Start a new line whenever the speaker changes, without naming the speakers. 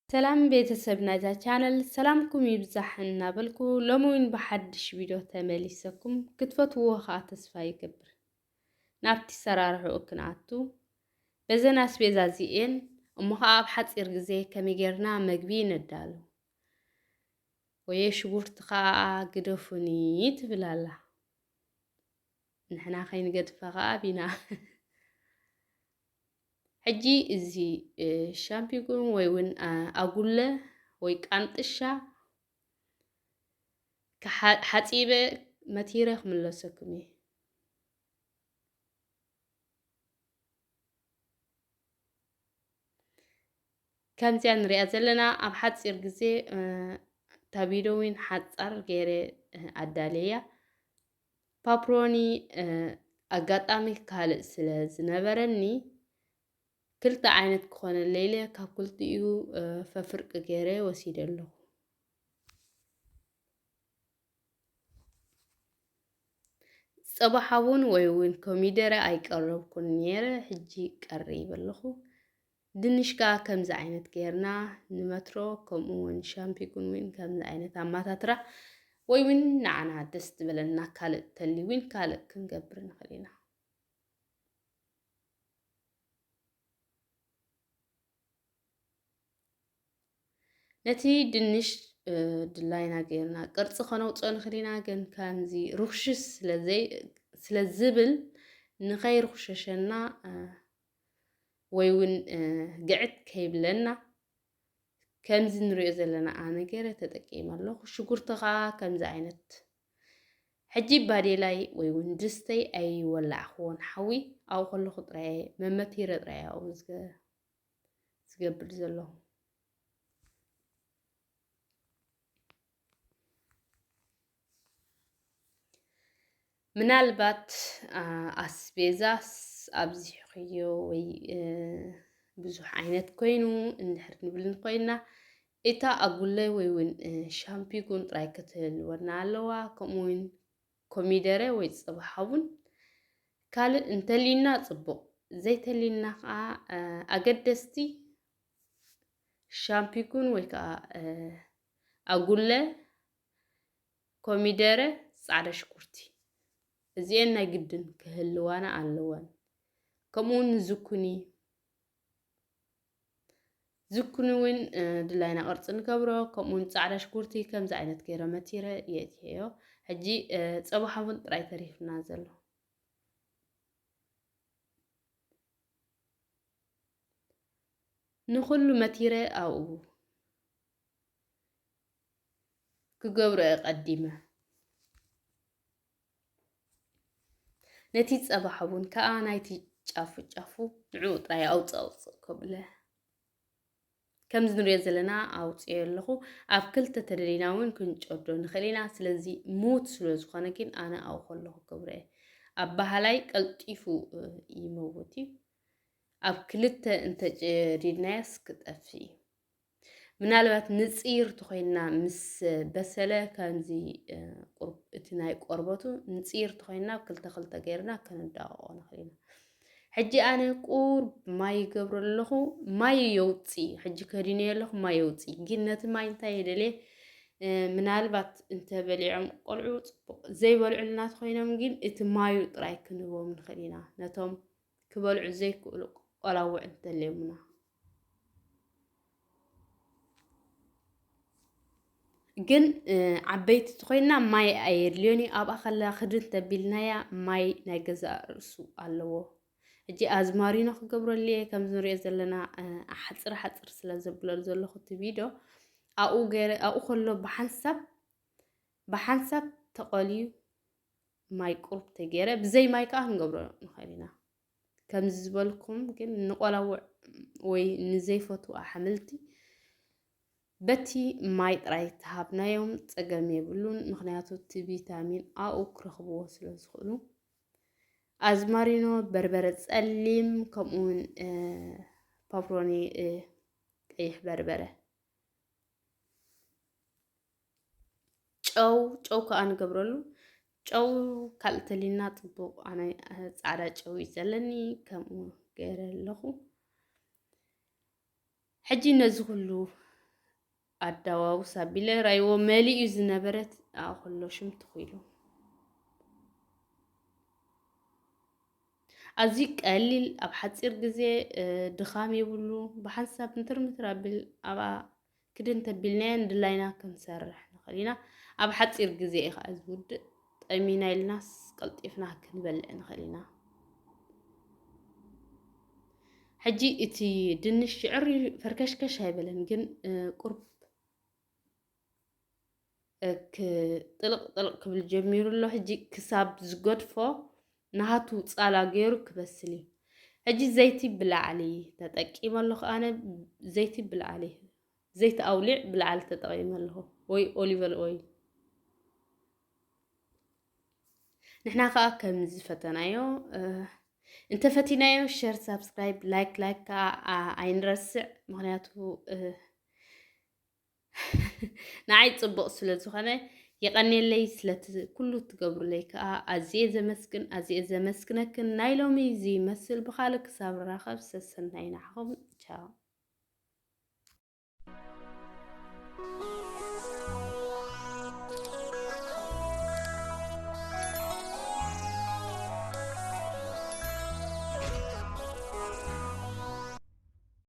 ሰላም ቤተሰብ ናይዛ ቻነል ሰላምኩም ይብዛሕ እናበልኩ ሎሚ እውን ብሓድሽ ቪድዮ ተመሊሰኩም ክትፈትውዎ ከዓ ተስፋ ይገብር። ናብቲ ኣሰራርሕኡ ክንኣቱ፣ በዘን ኣስቤዛ እዚኤን እሞ ኸኣ ኣብ ሓጺር ግዜ ከመይ ጌርና መግቢ ነዳሉ። ወየ ሽጉርቲ ኸኣ ግደፉኒ ትብል ኣላ። ንሕና ከይንገድፋ ኸኣ ቢና ሕጂ እዚ ሻምፒጉን ወይ እውን ኣጉለ ወይ ቃንጥሻ ሓጺበ መቲረ ክምለሰኩም እየ። ከምዚያ ንሪኣ ዘለና ኣብ ሓፂር ግዜ እታ ቪድዮ እውን ሓፃር ገይረ ኣዳልያ ፓፕሮኒ ኣጋጣሚ ካልእ ስለ ዝነበረኒ ክልተ ዓይነት ክኾነለይ ኢለ ካብ ክልቲኡ ፈፍርቂ ገይረ ወሲደ ኣለኹ። ፅባሕ እውን ወይ እውን ኮሚደረ ኣይቀረብኩን ነይረ ሕጂ ቀሪብ ኣለኹ። ድንሽ ከዓ ከምዚ ዓይነት ገይርና ንመትሮ ከምኡ እውን ሻምፒጉን እውን ከምዚ ዓይነት ኣማታትራ ወይ እውን ንዓና ደስ ዝበለና ካልእ ተልዩ እውን ካልእ ክንገብር ንኽእል ኢና። ነቲ ድንሽ ድላይና ገይርና ቅርፂ ከነውፅኦ ንኽእል ኢና። ግን ከምዚ ርኽሽሽ ስለ ዝብል ንኸይርኽሸሸና ወይ እውን ግዕት ከይብለና ከምዚ ንሪኦ ዘለና ኣነ ገይረ ተጠቂመ ኣለኹ። ሽጉርቲ ከዓ ከምዚ ዓይነት ሕጂ ባዴላይ ወይ እውን ድስተይ ኣይወላዕኽዎን ሓዊ ኣብኡ ከለኹ ጥራየ መመቲረ ጥራየ ኣብኡ ዝገብር ዘለኹ ምናልባት ኣስቤዛ ኣብዚሕኽዮ ወይ ብዙሕ ዓይነት ኮይኑ እንድሕር ንብል ኮይና እታ ኣጉለ ወይውን ሻምፒጉን ጥራይ ክትህልወና ኣለዋ ከምኡውን ኮሚደረ ወይ ጸባ ሓቡን ካልእ እንተልዩና ጽቡቕ ዘይተልዩና ከዓ ኣገደስቲ ሻምፒጉን ወይ ከዓ ኣጉለ ኮሚደረ ጻዕዳ ሽኩርቲ እዚኤን ናይ ግድን ክህልዋና ኣለወን ከምኡውን ንዝኩኒ ዝኩኒ እውን ድላይና ቅርፂ ንገብሮ ከምኡ እውን ፃዕዳ ሽጉርቲ ከምዚ ዓይነት ገይረ መቲረ የእትየዮ ሕጂ ፀባ ሓሙን ጥራይ ተሪፍና ዘሎ ንኩሉ መቲረ ኣብኡ ክገብሮ ቀዲመ ነቲ ጸባ ሓቡን ከኣ ናይቲ ጫፉ ጫፉ ንዕኡ ጥራይ ኣውጽእ ኣውጽእ ከብለ ከምዚ ንሪኦ ዘለና ኣውፅዮ ኣለኹ ኣብ ክልተ ተደሊና እውን ክንጨዶ ንኽእል ኢና ስለዚ ሙት ስለ ዝኾነ ግን ኣነ ኣውኸ ኣለኹ ክብረ ኣብ ባህላይ ቀልጢፉ ይመውት እዩ ኣብ ክልተ እንተጨዲድናያስ ክጠፍእ እዩ ምናልባት ንጽይር ተኾይንና ምስ በሰለ ከምዚ እቲ ናይ ቆርበቱ ንጽይር ተኾይንና ክልተ ክልተ ገይርና ክንዳቕቆ ንኽእል ኢና ሕጂ ኣነ ቁር ማይ ይገብሮ ኣለኹ ማይ የውፅ ሕጂ ከዲነ ኣለኹ ማይ የውፅ ግን ነቲ ማይ እንታይ የደልየ ምናልባት እንተበሊዖም ቆልዑ ፅቡቅ ዘይበልዑልና ተኮይኖም ግን እቲ ማዩ ጥራይ ክንህቦም ንኽእል ኢና ነቶም ክበልዑ ዘይክእሉ ቆላውዕ እንተልዮምና ግን ዓበይቲ ኮይና ማይ ኣየድልዮን እዩ ኣብኣ ከለላ ክድን ተቢልናያ ማይ ናይ ገዛእ ርእሱ ኣለዎ እጂ ኣዝማሪኖ ክገብረሉ እየ ከምዚ ንሪኦ ዘለና ሓፅር ሓፅር ስለ ዘብለሉ ዘለኹ እቲ ቪድዮ ኣብኡ ገይረ ኣብኡ ከሎ ብሓንሳብ ብሓንሳብ ተቐልዩ ማይ ቁሩብ ተገይረ ብዘይ ማይ ከዓ ክንገብሮ ንኽእል ኢና ከምዚ ዝበልኩም ግን ንቆላውዕ ወይ ንዘይፈትዉ ኣሕምልቲ በቲ ማይ ጥራይ ተሃብናዮም ፀገም የብሉን። ምክንያቱ እቲ ቪታሚን ኣኡ ክረኽብዎ ስለ ዝኽእሉ ኣዝማሪኖ፣ በርበረ ፀሊም ከምኡውን ፓፕሮኒ ቀይሕ በርበረ ጨው ጨው ከዓ ንገብረሉ ጨው ካልእ ተሊና ፅቡቕ ኣነ ፃዕዳ ጨው እዩ ዘለኒ ከምኡ ገይረ ኣለኹ ሕጂ ነዚ ኩሉ ኣዳዋውስ ኣቢለ ራይዎ መሊኡ ዝነበረት ኣኹሎ ሽም ትኽኢሉ ኣዝዩ ቀሊል ኣብ ሓፂር ግዜ ድኻም የብሉ ብሓንሳብ ምትር ምትር ኣቢል ኣብኣ ክዲ እንተቢልናዮ ንድላይና ክንሰርሕ ንኽእል ኢና። ኣብ ሓፂር ግዜ እዩ ከዓ ዝውድእ። ጠሚና ኢልናስ ቀልጢፍና ክንበልዕ ንኽእል ኢና። ሕጂ እቲ ድንሽ ሽዕሪ ፈርከሽከሽ ኣይበለን ግን ቁርብ ጥልቕ ጥልቕ ክብል ጀሚሩ ኣሎ ሕጂ ክሳብ ዝገድፎ ናሃቱ ጻላ ገይሩ ክበስል እዩ ሕጂ ዘይቲ ብላዕሊ ተጠቂመ ኣለኹ ኣነ ዘይቲ ብላዕሊ ዘይቲ ኣውሊዕ ብላዕሊ ተጠቂመ ኣለኹ ወይ ኦሊቨል ኦይል ንሕና ከዓ ከምዚ ፈተናዮ እንተፈቲናዮ ሸር ሳብስክራይብ ላይክ ላይክ ከዓ ኣይንረስዕ ምክንያቱ ንዓይ ጽቡቕ ስለ ዝኾነ የቐኔለይ ስለቲ ኩሉ ትገብሩለይ ከኣ ኣዝየ ዘመስግን ኣዝየ ዘመስግነክን ናይ ሎሚ እዚ ይመስል ብኻልእ ክሳብ ንራኸብ ሰሰናይ ንዓኹም ቻው